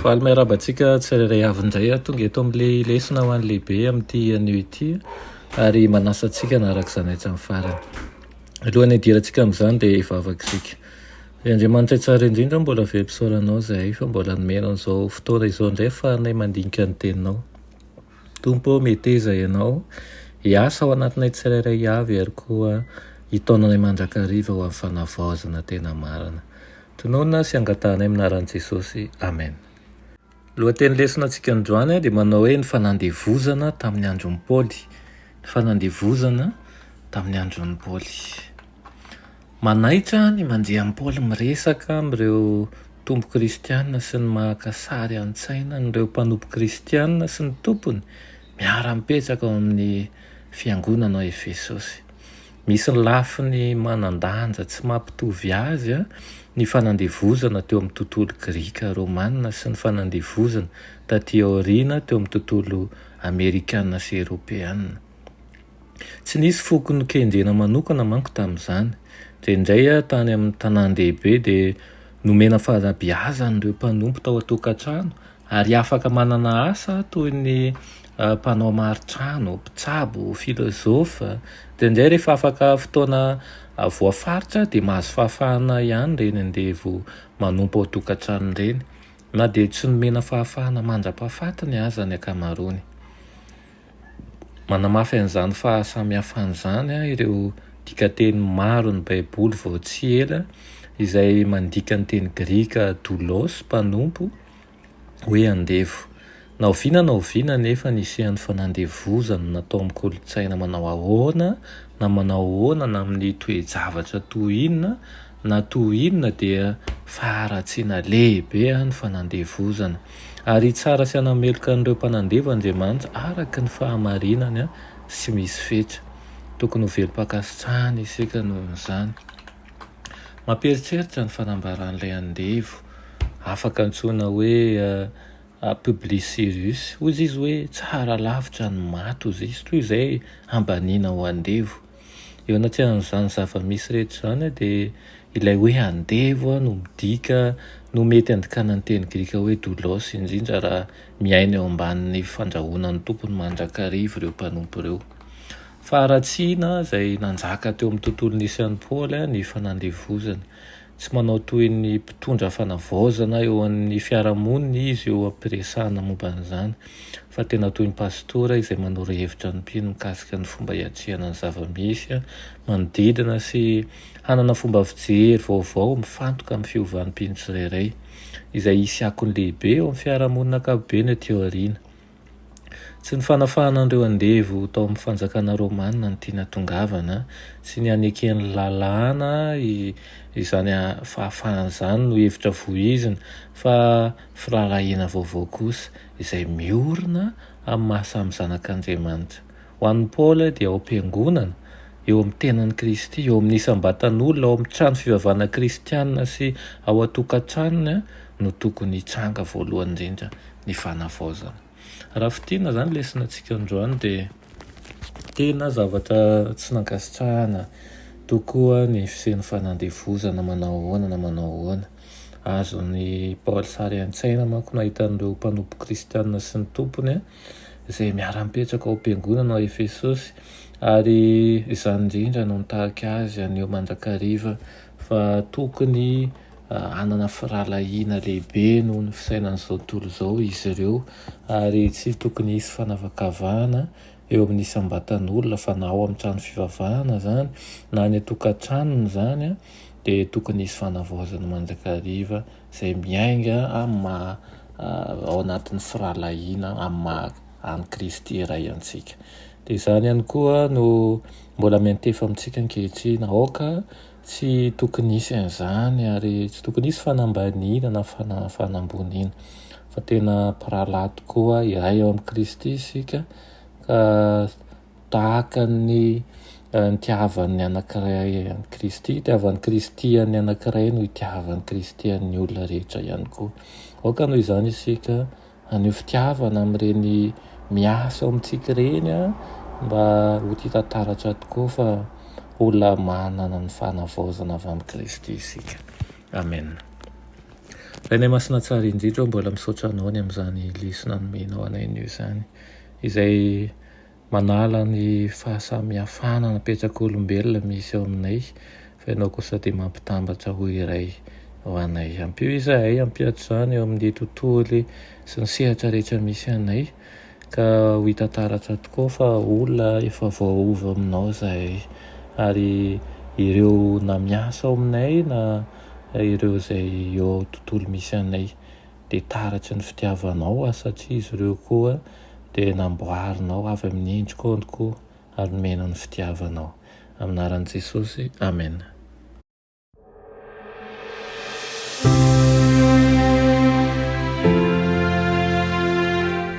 Faly miarahaba antsika tsirairay avy indray aho tonga eto amin'ilay lesona ho an'ny lehibe amin'ity anio ity ary manasa antsika hanaraka izany hatramin'ny farany. Alohan'ny hidirantsika amin'izany dia hivavaka isika. Ry Andriamanitra Tsara indrindra ô mbola very mpisaora Anao izahay fa mbola nomenao an'izao fotoana izao indray ahafahanay mandinika ny Teninao. Tompo ô meteza Ianao hiasa ao anatinay tsirairay avy ary koa hitaona anay mandrakariva ho amin'ny fanavaozana tena marina. Tononina sy angatahanay amin'ny anaran'i Jesosy. Amen. Ny lohatenin'ny lesonantsika androany dia manao hoe ny fanandevozana tamin'ny andron'i Paoly. Ny fanandevozana tamin'ny andron'i Paoly. Manaitra ny manjehy an'i Paoly miresaka amin'ireo tompo kristianina sy ny maka sary an-tsaina an'ireo mpanompo kristianina sy ny tompony miara-mipetraka ao amin'ny fiangonana ao Efesosy. Misy ny lafiny manan-danja tsy mampitovy azy ny fanandevozana teo amin'ny tontolo grika rômana sy ny fanandevozana taty aoriana teo amin'ny tontolo amerikana sy eropeana. Tsy nisy foko nokendrena manokana manko tamin'izany. Indraindray tany amin'ny tanàn-dehibe dia nomena fanabeazana ireo mpanompo tao an-tokantrano ary afaka manana asa toy ny mpanao maritrano, mpitsabo, filozofa, dia injay rehefa afaka fotoana voafaritra dia mahazo fahafahana ihany ireny andevo manompo ao tokantrano ireny, na dia tsy nomena fahafahana mandra-pahafatiny aza ny ankamaroany. Manamafy an'izany fahasamihafana izany ireo dikanteny maron'ny Baiboly vao tsy ela, izay mandika ny teny grika doulos, mpanompo, hoe andevo. Na oviana na oviana anefa ny hisian'ny fanandevozana na tao amin'ny kolontsaina manao ahoana na manao ahoana na amin'ny toe-javatra toy inona Na toa inona dia faharatsiana lehibe ny fanandevozana. Ary hitsara sy hanameloka an'ireo mpanandevo Andriamanitra araka ny fahamarinany sy misy fetra. Tokony ho velom-pankasitrahana isika noho izany. Mampieritreritra ny fanambaran'ilay andevo, afaka antsoina hoe Publius Syrus. Hoy izy hoe, Tsara lavitra ny maty, hoy izy, toy izay hambaniana ho andevo. Eo anatrehan'izany zava-misy rehetra izany dia ilay hoe andevo no midika, no mety andikana ny teny grika hoe doulos indrindra raha miaina eo ambanin'ny fandrahonan'ny Tompony mandrakariva ireo mpanompo ireo. Faharatsiana izay nanjaka teo amin'ny tontolo nisy an'i Paoly ny fanandevozana. tsy manao toy ny mpitondra fanavaozana eo amin'ny fiarahamonina izy eo am-piresahana momba an'izany, fa tena toy ny pastora izay manoro hevitra ny mpino mikasika ny fomba hiatrehana ny zava-misy manodidina sy hanana fomba fijery vaovao mifantoka amin'ny fiovan'ny mpino tsirairay, izay hisy akony lehibe eo amin'ny fiarahamonina ankapobeny aty aoriana. Tsy ny fanafahana an'ireo andevo tao amin'ny fanjakana romana no tiany hatongavana sy ny haneken'ny lalàna izany fahafahana izany no hevitra vohizina fa firaharahiana vaovao kosa izay miorina amin'ny maha samy zanak'Andriamanitra. Ho an'i Paoly dia ao am-piangonana, eo amin'ny tenan'i Kristy, eo amin'ny isam-batan'olona, ao amin'ny trano fivavahana kristianina sy ao an-tokantranony no tokony hitranga voalohany indrindra ny fanavaozana. Raha fintinina izany leson-tsika androany dia tena zavatra tsy nankasitrahana tokoa ny fisian'ny fanandevozana manao ahoana na manao ahoana. Azon'i Paoly sary an-tsaina manko nahita an'ireo mpanompo kristianina sy ny tompony izay miara-mipetraka ao am-piangonana ao Efesosy, ary izany indrindra no nitaky azy anio mandrakariva fa tokony hanana firahalahiana lehibe noho ny fisainan'izao tontolo izao izy ireo, ary tsy tokony hisy fanavakavahana eo amin'ny isam-batan'olona fa na ao amin'ny trano fivavahana izany na any an-tokantranony izany dia tokony hisy fanavaozana mandrakariva. izay miainga amin'ny maha ao anatin'ny firahalahiana amin'ny maha an'i Kristy iray antsika. Dia izany ihany koa no mbola miantefa amintsika ankehitriny. Aoka tsy tokony hisy an'izany ary tsy tokony hisy fanambaniana na fana- fanamboniana fa tena mpirahalahy tokoa iray ao amin'i Kristy isika ka. Tahaka ny nitiavan'ny anankiray an'i Kristy, itiavan'i Kristy an'ny anankiray no itiavan'i Kristy an'ny olona rehetra ihany koa. Aoka noho izany isika haneho fitiavana amin'ireny miasa ao amintsika ireny mba ho hita taratra tokoa fa olona manana ny fanavaozana avy amin'i Kristy isika. Amen. Rainay Masina Tsara indrindra ô, mbola misaotra Anao ny amin'izany lesona nomenao anay anio izany, izay Manala ny fahasamihafana napetsak'olombelona misy eo aminay fa ianao kosa dia mampitambatra ho iray ho anay. Ampio izahay hampiato izany eo amin'ny tontolo sy ny sehatra rehetra misy anay ka ho hita taratra tokoa fa olona efa voaova aminao izahay ary ireo na miasa ao aminay na ireo izay eo amin'ny tontolo misy anay dia taratry ny fitiavanao aho satria izy ireo koa dia namboarinao avy amin'ny endrikondriko ary nomenao ny fitiavanao. Amin'ny anaran'i Jesosy, amena.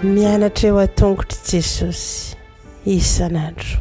Mianatra eo an-tongotr'i Jesosy isan'andro.